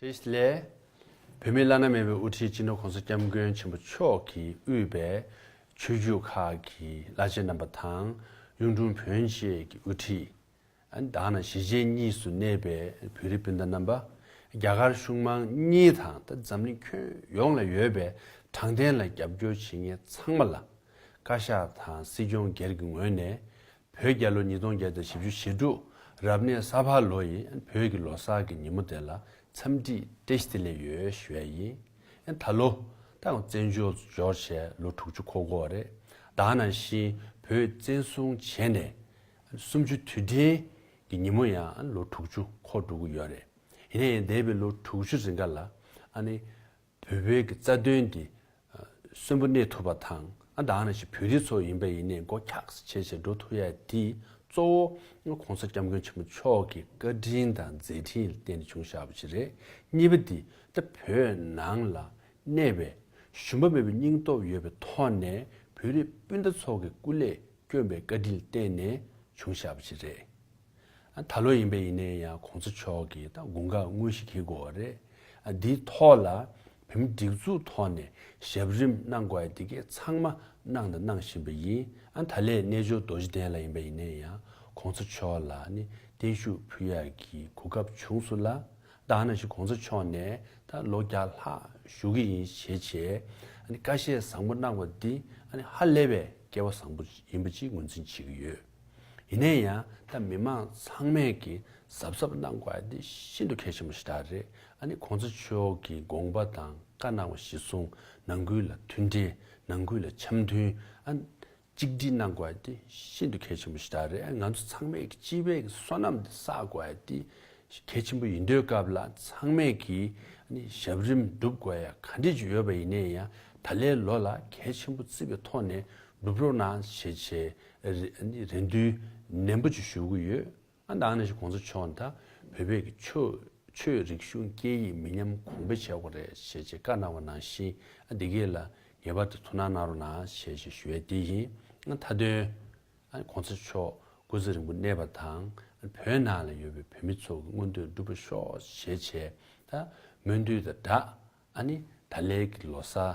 དེ་སླད། བོད་མི་བླ་ན་མེད་པའི་དབུ་ཁྲིད་སྤྱི་ནོར་གོང་ས་སྐྱབས་མགོན་ཆེན་པོ་མཆོག་གིས་དབུས་པའི་ཆོས་བརྒྱུད་ཁག་གི་བླ་ཆེན་རྣམ་པ་དང་གཡུང་དྲུང་བོན་བཅས་ཀྱི་དབུ་ཁྲིད། དག་ན་གཞིས་བྱེས་གཉིས་སུ་གནས་པའི་བོད་རིགས་སྤུན་ཟླ་རྣམ་པ། རྒྱ་གར་གཞུང་མང་གཉིས་དང་འཛམ་གླིང་ཁྱོན་ཡོངས་ལ་ཡོད་པའི་དྲང་བདེན་ལ་རྒྱབ་སྐྱོར་བྱེད་མཁན་ཚང་མ་ལ། བཀའ་ཤག་དང་སྲིད་སྐྱོང་སྒེར་གྱི་ངོས་ནས་བོད་རྒྱལ་ལོ་ཉིས་སྟོང་བརྒྱད་དང་བཞི་བཅུ་ཞེ་དྲུག་རབ་གནས་ས་ཕག་ལོ་ཡི་བོད་ཀྱི་ལོ་སར་གྱི་ཉིན་མོ་དེ་ལ་འཚམས་འདྲིས་ཏེ་ཤི་ཏི་ལེ་ཡོལ་བཞོད་ཡིན། ད་ལོ། ད་ཡང་བཙན་བྱོལ་དུ་འབྱོར་ཆེད་ལོ་དྲུག་ཅུ་འཁོར་འགོ་རེད། དག་ནང་བཞིན་བོད་བཙན་བཟུང་བྱས་ནས་སུམ་ཅུ་དུས་དྲན་གྱི་ཉིན་མོ་ཡང་ལོ་དྲུག་ཅུ་འཁོར་འགྲོ་གི་ཡོད་རེད། ཡིན་ན་ཡང་འདས་པའི་ལོ་དྲུག་ཅུ་རིང་ག་ལ་ཨ་ནི། བོད་བོད་ཀྱི་རྩ་དོན་འདི་གསོན་པོ་གནས་ཐུབ་པ་དང་ཨ་འདའ་ན་ཞིག་བོད་རིགས་ཚོ་ཡིན་པ་ཡིན་ནས་མགོ་འཁྱག་སེ་བྱས་བྱས་འགྲོ་ཐུབ་ཡ་དེ་གཙོ་བོ ྋགོང་ས ྋསྐྱབས་མགོན་ཆེན་པོ་མཆོག་གི་བཀའ་དྲིན་དང་མཛད་འཕྲིན་ལ་བརྟེན་ནས་བྱུང་ཞགས་པ་ཞིག་རེད་གཉིས་པ་འདི་ལྟ་བོད་ནང་ལ་གནས་པའི་ཞུམ་པ་མེད་པའི་སྙིང་སྟོབས་ཡོད་པའི་ཐོག་ནས་བོད་རིགས་སྤུན་ཟླ་ཚོ་གི་སྐུ་ལས་བསྐྱོན་པའི་བཀའ་དྲིན་ལ་བརྟེན་ནས་བྱུང་ཞགས་པ་ཞིག་རེད། ད་ལོ་ཡིན་པས་ཡིན་ནའི་ཡང་གོང་ཚོ་མཆོག་གིས་ད་དགུང་ཁ་དངོས་ཤིག་འཁྱེར་དགོས་བ་རེད། འདིའི་ཐོག་ལ་བེམ་སྒྲིག་འཛུགས་ཐོག་ནས་ཞབས་རིམ་གནང་དགོས་བ་དེ་གས་ཚང་མ་གནང་དང་གནང་བཞིན་པ་ཡིན། ད་ལས་རྣལ་འབྱོར་རྡོ་རྗེ་གདན་ལ་ཡིན་པས་ཡིན་ནའི་ཡང་གོང་ཚོ་མཆོག་ལ་ནི་བརྟན་བཞུགས་ཕུལ་ཡག་གི་གོ་སྐབས་བྱུང་སོ་ལ། བདག་ནང་བཞིན་གོང་ཚོ་མཆོག་ནས་ད་ལོ་བརྒྱ་ལྷག་བཞུགས་ཀྱི་ཡིན་ཞེས་བྱས་བཀའ་བཞེས་བཟང་པོ་གནང་བ་འདི་ཧ་ལས་པའི་སྐལ་བ་བཟང་པོ་ཡིན་པ་ཅིག་ངོས་འཛིན་བྱེད་ཀྱི་ཡོད། ཡིན་ན་ཡང་ད་མི་དམངས་ཚང་མས་ཀྱིས་གཟབ་གཟབ་གནང་དགོས་དེ་ཤིན་ཏུ་གལ་ཆེན་པོ་ཞིག་ད་རེད་ཨ་ནི་གོང་ས་མཆོག་གི་དགོངས་པ་དང་བཀའ་གནང་བ་གཞི་བཟུང་ནང་ཁུལ་ལ་མཐུན་འབྲེལ་ནང་ཁུལ་ལ་འཆམ་མཐུན་ཨ་གཅིག་སྒྲིལ་གནང་དགོས་དེ་ཤིན་ཏུ་གལ་ཆེན་པོ་ཞིག་ད་རེད་ཨ་ང་ཚོ་ཚང་མས་ཀྱི་སྤྱི་བའི་བསོད་ནམས་དེ་བསགས་དགོས་དེ་གལ་ཆེན་པོ་ཡིན་དུས་སྐབས་ལ་ཚང་མས་ཀྱིས་ཨ་ནི་ཞབས་རིམ་སྒྲུབ་དགོས་ཡ་ག་འདྲི་རྒྱུ་ཡོད་པ་ཡིན་ན་ཡང་ད་ལའི་ལོ་ལ་གལ་ཆེན་པོ་བརྩི་བའི་ཐོག་ནས་སྒྲུབ་རོགས་གནང་ཞེས་བྱས་རེ་འདུན་ནན་པོ་བཅུ་ཞུ་གི་ཡོད། ཨ་མདའ་ནས་བཞིན་གོང་ས་མཆོག་ནས་ད་བོད་པའི་གི་ཆོས་རིག་གཞུང་སྐད་ཡིག་མི་ཉམས་གོང་འཕེལ་བྱེད་དགོས་རེད་ཞེས་ཆེད་བཀའ་གནང་བ་ནང་བཞིན་ཨ་འདི་གས་ལ་ངེས་པར་དུ་ཐུགས་སྣང་གནང་རོགས་གནང་ཞེས་ཞེས་ཞུ་ཡས་དེ་ཡིན་ཨ་མཐའ་དོན་ཨ་གོང་ས་མཆོག་སྐུ་ཚེ་རིང་པོ་གནས་པ་དང་ཨ་བོད་ནང་ལ་ཡོད་པའི་བོད་མི་ཚོ་གི་མངོན་འདོད་འགྲུབ་པ་ཤོག་ཞེས་ཆེད་ད་སྨོན་འདུན་དང་སྦྲགས་ཨ་ནི་ད་ལས་གི་ལོ་སར